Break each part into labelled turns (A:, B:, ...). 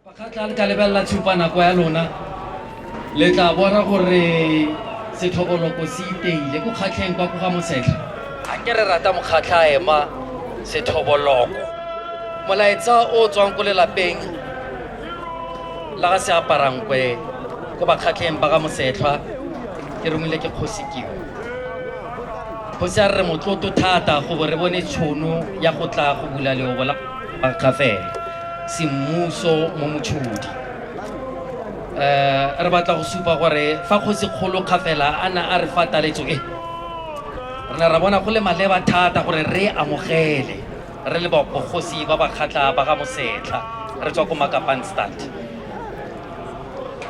A: bakgatla le ka lebelela tshupanako ya lona le tla bona gore setlhokoloko se iteile ko kgatlheng kwa ko ga mosetlha a ke re rata mokgatlha a ema sethoboloko molaetsa o tswang ko lelapeng la ga se aparankwe ko bakgatlheng ba ga mosetlhwa ke romile ke kgosi keo kgosi a re re motloto thata go bo re bone tšhono ya go tla go bula leobo la Kgafele semmuso mo motshodi um re batla go supa gore fa kgosi kgolo kgafela a na a re fa taletso e re ne ra bona go le maleba thata gore re amogele re le bogosi ba ba kgatlha ba ga mosetlha re tswa ko makapanstad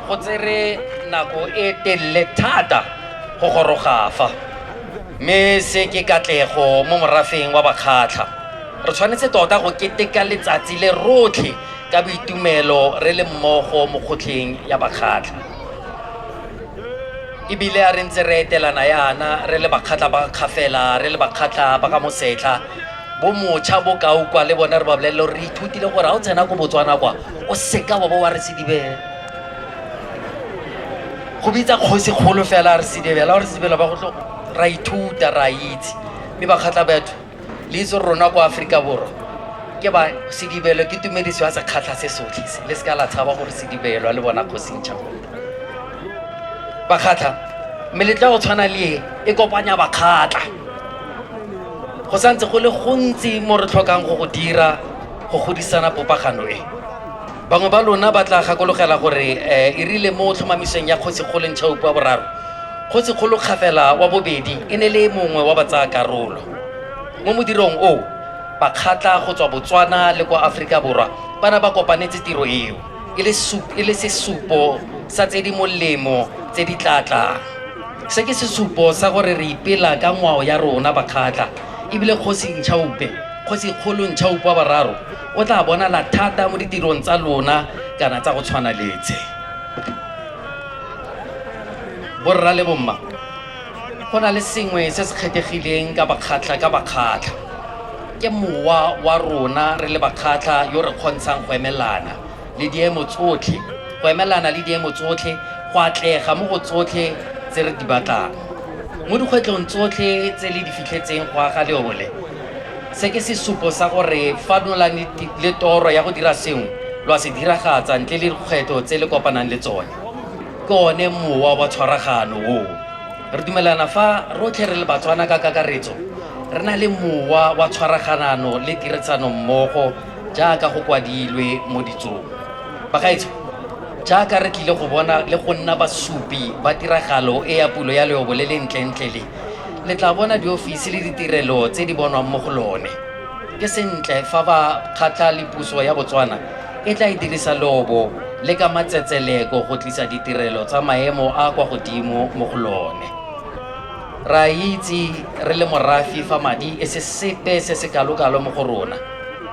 A: Go tsere nako e telele thata go goroga fa, mme se ke katlego mo morafeng wa Bakgatlha. Re tshwanetse tota go keteka letsatsi le rotlhe ka boitumelo re le mmogo mo kgotlheng ya Bakgatlha. E bile a re ntse re etelana yana re le Bakgatlha ba Kgafela, re le Bakgatlha ba ka Mosetlha, bo mocha bokao kwa le bone re ba bolelele gore re ithutile gore ga o tsena ko botswana kwa o seka wa bo wa re sedibela go bitsa kgosi kgolo fela re sedibela re sedibela ba go ra ithuta ra itse mme ba kgatlha batho le itse rona kwa aforika borwa ke ba sedibelo ke tumediso ya sekgatlha se sotlhe se le seka la tshaba gore sedibelwa le bona kgosintšha bakgatlha meletla go tshwana le e e kopanya bakgatlha go santse go le gontsi mo re tlhokang go go dira go godisana popagano e bangwe ba lona ba tla gakologela gore um e rile mo tlhomamisong ya kgotsikgolo ntšhaupo wa boraro kgotsikgolo kgafela wa bobedi e ne le mongwe wa batsaya karolo mo modirong oo bakgatla go tswa botswana le kwa aforika borwa ba ne ba kopanetse tiro eo e le sesupo sa tse di molemo tse di tla tlang Se ke sesupo sa gore re ipela ka ngwao ya rona bakgatla ebile kgosi Ntšhaupe, kgosi kgolo Ntšhaupe wa bararo o tla bonala thata mo ditirong tsa lona kana tsa go tshwana letse. Borra le bomma, go na le sengwe se se kgethegileng ka bakgatla ka bakgatla. Ke mowa wa rona re le bakgatla yo re kgontshang go emelana. le diemo tsotlhe, go emelana le diemo tsotlhe, go atlega mo go tsotlhe tse re di batlang. Mo dikgwetlhong tsotlhe tse le di fitlhetseng go aga leobo le, se ke sesupo sa gore fa lo na le toro ya go dira sengwe, lo a se diragatsa ntle le dikgwetlho tse le kopanang le tsone. Ke one mowa wa tshwaragano oo. Re dumelana fa rotlhe re le Batswana ka kakaretso, re na le mowa wa tshwaraganano le tirisano mmogo, Jaaka go kwadilwe mo Ditsong, bagaetsho, jaaka re tlile go bona le go nna basupi ba tiragalo e ya pulo ya leobo le le ntlentle le, le tla bona diofisi le ditirelo tse di bonwang mo go lone. Ke sentle fa ba kgatlha le puso ya Botswana e tla e dirisa leobo le ka matsetseleko go tlisa ditirelo tsa maemo a a kwa godimo mo go lone. Re a itse re le morafe fa madi e se sepe se se kalokalo mo go rona.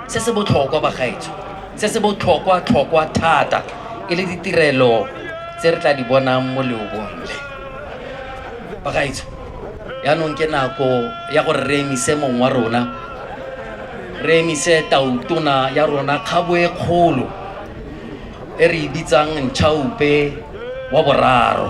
A: Se se botlhokwa, bagaetsho, se se botlhokwatlhokwa thata e le ditirelo tse re tla di bonang mo leobong le. Bagaetsho, jaanong ke nako ya gore re emise mong wa rona, re emise Tautona ya rona kgabo e kgolo e re e bitsang Nchaupe wa Boraro.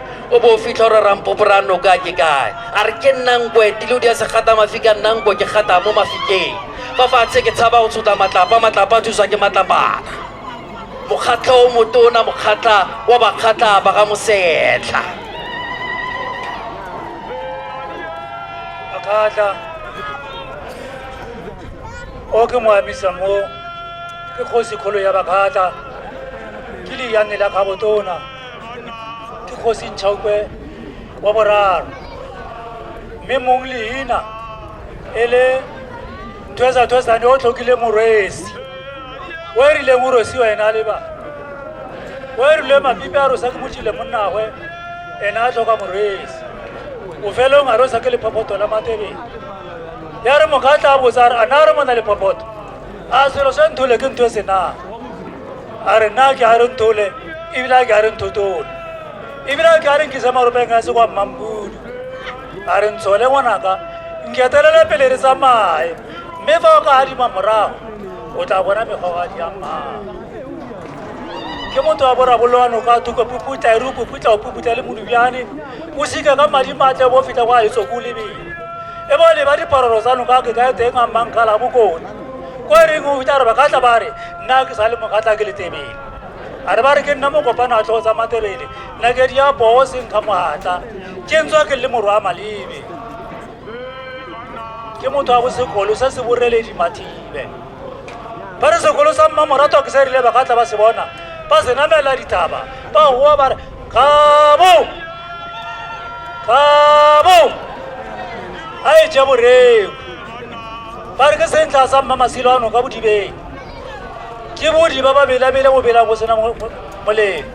A: o bo o fitlha gore rampopo ra noka ke kae a re ke nnanko etile o di a se gata mafi ka nnanko ke gata mo mafikeng fa fatshe ke tshaba go tshota matlapa matlapa a thuswa ke matlapana mokgatlha o motona mokgatlha wa bakgatlha ba ga mosetlha
B: makgatlha o ke moamisa mo ke kgosi kgolo ya bakgatlha ke leyane la kgabotona ke kgosi ntšhaokwe wa boraro mme mong leina e le thwesathwesane o tlhokile morwesi o e rileng o rosi wena a leba o e rile mapipe a rosa ke motšile monnagwe ena a tlhoka morwesi o felong a rosa ke lephophoto la matebele ya re moka tla botsa re a na re mona lephophoto a se lo se nthole ke ntho e senang a re nna ke a re nthole ebile a ke a re nthotole ebile a ke a re nkise marobeng a se kwa mmampudu a re ntshole ngwanaka nketelele pele re tsamaye mme fa o ka adima morago o tla bona megogadi ya mmaa ke motho wa boraboloano kwa thuko puputla e re o puputla o puputla le modubjane o sika ka madi matle bo feta kwa etso ko lebele e bo leba diparolo tsa noka ke kae teng a mmanka la bokone ko e reng o bitsa gore ba ka tla ba re nna ke sa le mokatla ke letebele a re ba re ke nna mokopano a tlho tsa matebele nna ke dia poo senkga mogatla ke ntswa ke le morw a malebe ke motho wa bosekolo se se boreledi mathibe ba re sekolo sa mmamoratwa ke se rile ba ka tla ba se bona ba se namela ditaba ba goa ba re kabo kabo a e je boreo ba re ke sentla sa mma masilo ano ka bodibeng ke bodi ba ba belabele go bela go sena mo- mo- molemo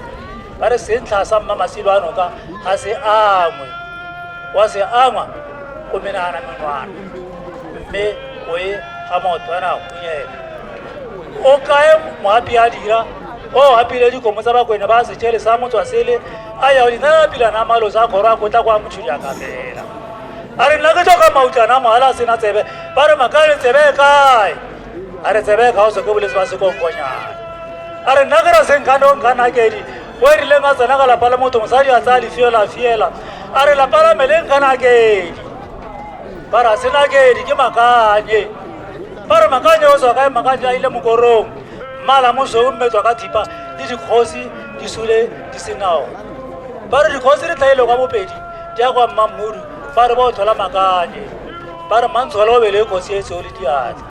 B: ba re sentla sa mma masilo ano ka ga se angwe wa se angwa o menagana menwana mme o e ga maoto a nako onyela o kae moapi a dira o apile dikomo tsa bakwena ba setšhele sa motswa sele a ya o dinapilana malo sa kgoro a kotla kwa motšhujaka fela a re nna ke tlhoka mautlana mogala a sena tsebe ba re maka re tsebe kae a re tsebe ka o soke boletse ba sekonkonyana a re nna ke ra senkanong ka nakedi o e rileng a tsena ka lapa la motho mosadi a tsaya lefiela fiela a re lapa la meleng ka nakedi ba ra senakedi ke makanye ba re makanye o tswa kae makanye a ile mokorong mmala mosweu mme tswa ka thipa le dikgosi di sule di senao ba re dikgosi di tlhaile kwa bopedi di ya kwa mmammudu fa re ba o tlhola makanye ba re mantshwala o bele kgosi e tseo le diatla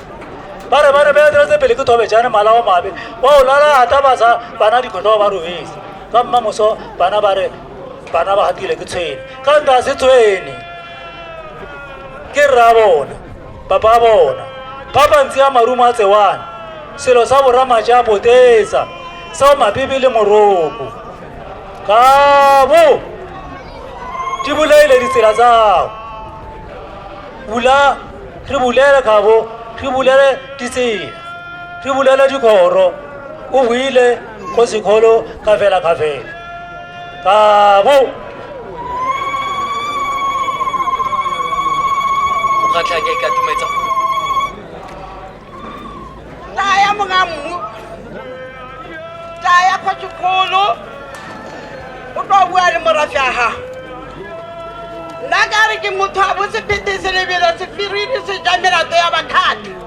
B: ba re ba re beeteletse pele ke thobe jane mala o mabe wa o lalata basa bana dikgotlho ba robetse ka mmamoso bana ba re bana ba gatile ke tshwene ka nta se tshwene ke rra bona papa bona ba bantsi a marumo a tsewana selo sa boramaja a botetsa sao mabibi le moroko kabo di bolaile ditsela tsao bula re bulele kabo re bulele ditsela re bulele dikgoro o buile go sekgolo ka fela ka fela ka bo
A: mokgatlha ke ka tumetsa
C: taya monga mmu taya kwa sekgolo o tlo bua le morafi a gago nna ka re ke motho a bosepete se lebelo sefiriri se ja melato ya bakgatlha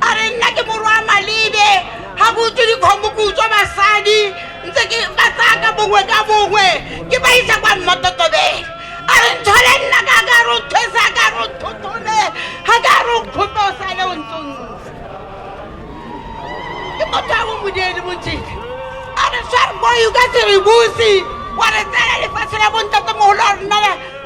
C: a re nna ke morwa malebe ga ke utswe dikgomo ke utswa basadi ntse ke ba tsaya ka bongwe ka bongwe ke ba isa kwa mmototobeng a re nthole nna ka ka re nthwesa ka re nthotole ga ka re nkgotosa le o ntse o ntse ke motho a bomodele mojeke a re sware boyo ka serebusi wa re tsela lefatshe la bontatemogolo a rona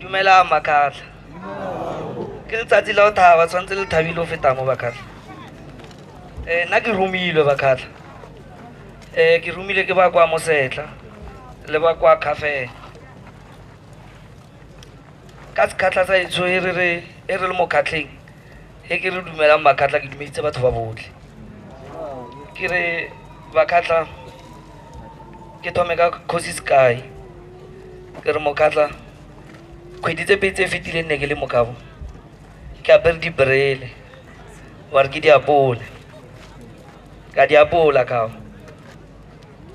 D: dumelang makgatlha ke letsatsi la o thaba tshwanetse le thabile o fetang mo bakgatlha um nna ke romilwe bakgatlha um ke romile ke ba kwa mosetlha le ba kwa kgafela ka sekgatlha sa etsho e re le mo kgatlheng e ke re dumelang bakgatlha ke dumeditse batho ba botlhe ke re bakgatlha ke thome ka kgosi sky ke re mokgatlha kgwedi tse pedi tse fetileng ne ke le mokabo ke apere dibrele wa re ke diapole ka diapola kao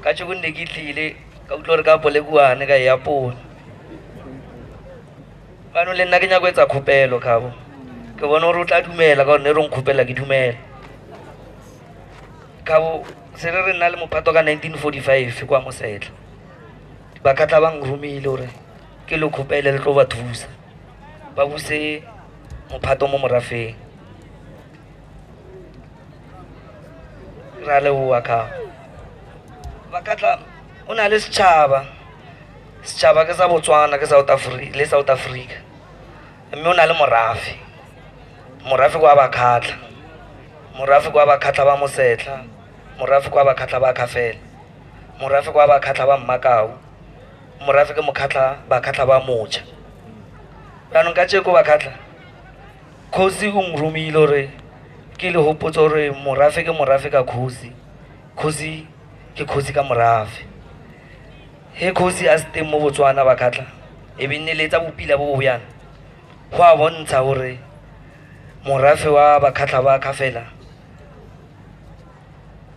D: ka tšhoko nne ke tlile ka utlwa gore ka apole kuane ka e apola manong le nna ke nyako etsa kgopelo kabo ke bone gore o tla dumela ka gore ne re nkgopela ke dumela kabo se re re nna le mopato ka 1945 kwa mosetlha ba katla ba ngromile gore ke lo kgopele le tlo ba thusa ba buse mophato mo morafeng ra leboa ka ba katla o na le setšhaba setšhaba ke sa botswana ke south africa le south africa mme o na le morafe morafe kwa bakhatlha morafe kwa bakhatlha ba mosetlha morafe kwa bakhatlha ba khafela morafe kwa bakhatlha ba mmakau morafe ke mokhatlha bakhatlha ba moja jaanong ka tšeko bakhatlha kgosi o nromile gore ke le gopotsa gore morafe ke morafe ka kgosi kgosi ke kgosi ka morafe He kgosi a se teng mo Botswana ba khatlha e be nne le tsa bopila bo bo yana go a bontsha gore morafe wa bakhatlha ba khafela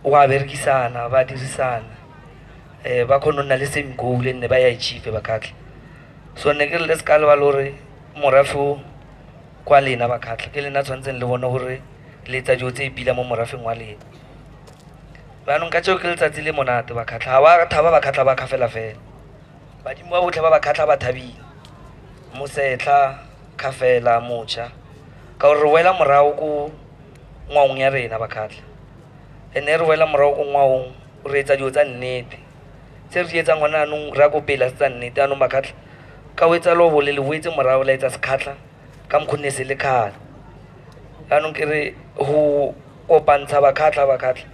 D: o a berekisana ba dirisana um ba kgone go nna le same goal nne ba ya achieve bakhatlha so ne ke re le se ka leba le gore morafe o kwa lena bakhatlha ke lena tshwanetseng le bone gore le etsa dilo tse pila mo morafeng wa lena jaanong ka tseo ke letsatsi le monate ba kgatlha ga ba thaba ba kgatlha ba kgafela fela badimo ba botlhe ba ba kgatlha ba thabile mosetlha kgafela mocha ka gore re boela morago ko ngwaong ya rena ba kgatlha and-e re boela morago ko ngwaong re etsa dilo tsa nnete tse re di etsang gone anong re ya ko pela se tsa nnete anong ba kgatlha ka o etsa lobole le boetse morago la etsa sekgatlha ka mokgonne se le kgale jaanong ke re go kopantsha bakhatlha bakhatlha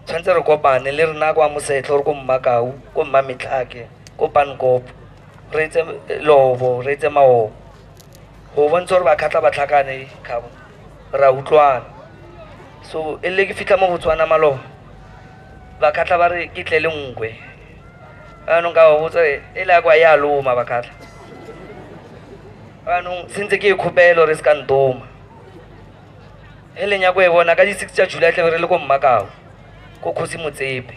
D: tshwanetse re kopane le rena kwa mosetlho re ko mmakau ko mma metlhake ko pankopo re etse lobo re etse maobo go bontsha gore bakhatlha ba tlhakane kgabo ra utlwana so e le ke fitlha mo botswana maloba bakhatlha ba re ke tle le nkwe anong ka ba botsa e le ya kwa ya loma bakhatlha anong sentse ke e kgopelo re se ka ntoma e leng ya ko e bona ka di-six tsa july tlabe re le ko mmakao ko kgosi motsepe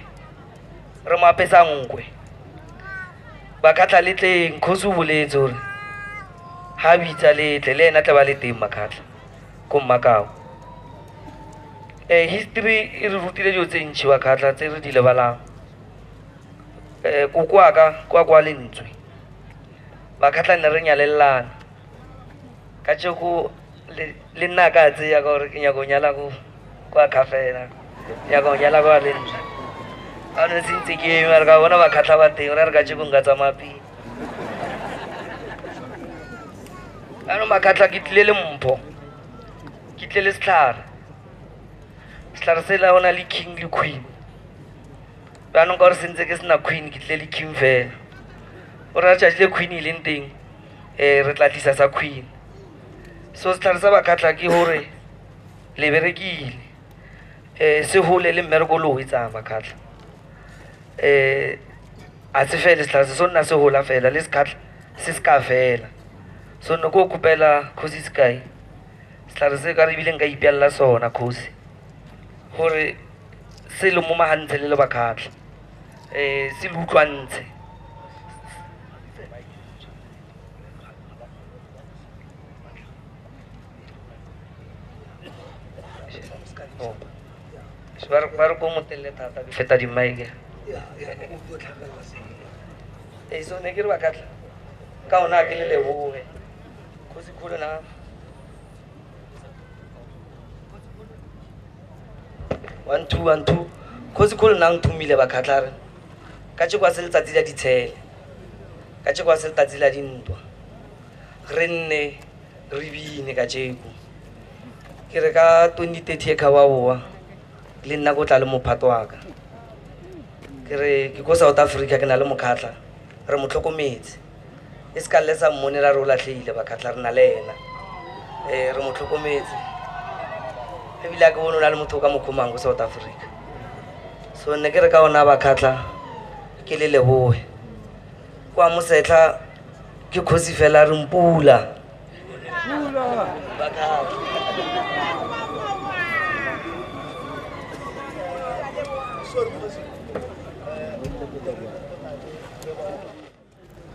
D: re mo apesa nkwe ba kgatlha le tleng kgosi o boletse gore ga bitsa letle le ena tla ba le teng makgatlha ko mmakao um history e re rutile dilo tse ntšhi wa kgatlha tse re di lebalang um kokoaka kwa kwa lentswe bakgatlha ne re nyalelelana ka jeko le nna ka tseya ka gore ke nyako nyala ko kwa kgafela nyako nyala kwa le nna ga ne se ntse ke eme re ka bona bakgatlha ba teng ra re ka jeko nka tsamaya pele anong makgatlha ke tlile le mpho ke tle le setlhare setlhare se la ona le king le queen jaanong ka gore sentse ke sena queen ke tle le king fela o re a tšatši le queen e leng teng um re tla tlisa sa queen so setlhare sa bakgatlha ke gore le berekile um se gole le mmereko o le o etsang bakgatlha um a se fele setlhare se so nna se gola fela le sekgatlha se se ka fela so nne ko kopela kgosi sekae setlhare se ka re ebile nka ipeelela sona kgosi gore se le mo magantshe le le bakgatlha um se le utlwantshe ba re ko motelele thata ke feta dimmaeke ee so ne ke re ba katla ka ona a ke le leboge kgosi kgolo na one two one two kgosi kgolo nna nthomile bakgatlha re ka tse kwa se letsatsi la ditshele ka tse kwa se letsatsi la dintwa re nne re bine ka jeko ke re ka 2030 e kgaba boa le nna ko tla le mophato waka ke re ke ko south africa ke na le mokgatlha re mo tlhokometse e se ka le sa mmone ra re o latlhegile bakgatlha re na le ena um re mo tlhokometse ebile a ke bone o na le motho o ka mo kgomang ko south africa so ne ke re ka ona bakgatlha ke le leboe Kwa Mosetlha ke kgosi fela re mpula.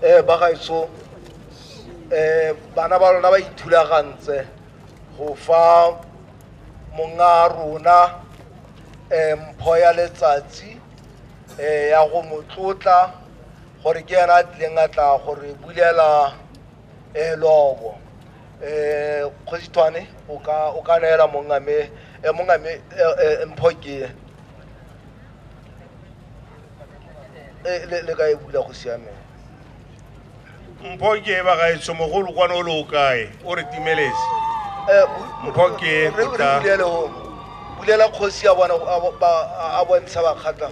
E: Eh ba gaetsho eh bana ba lona ba ithulagantse go fa monga rona eh mpho ya letsatsi eh ya go motlotla gore ke yena a tlileng a tla gore bulela um lobo um kgosithwane o ka o ka neela mongame eh, mongame eh, eh, mpho ke Eh, le le ka e bula go siameng
F: mpho ke ba gaetsho mogolo kwane o le o kae o re timeletse Eh, bu- Mpho ke re- re kota. bulele o-
E: bulela kgosi ya bona a bo- ba- a bontsha bakgatla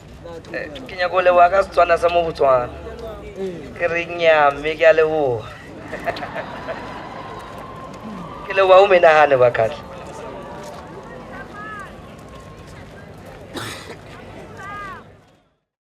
D: eh, ke nyako leboga ka setswana sa mo botswana ke re nyaa mme ke a leboga ke leboga o menagane ba kgatlha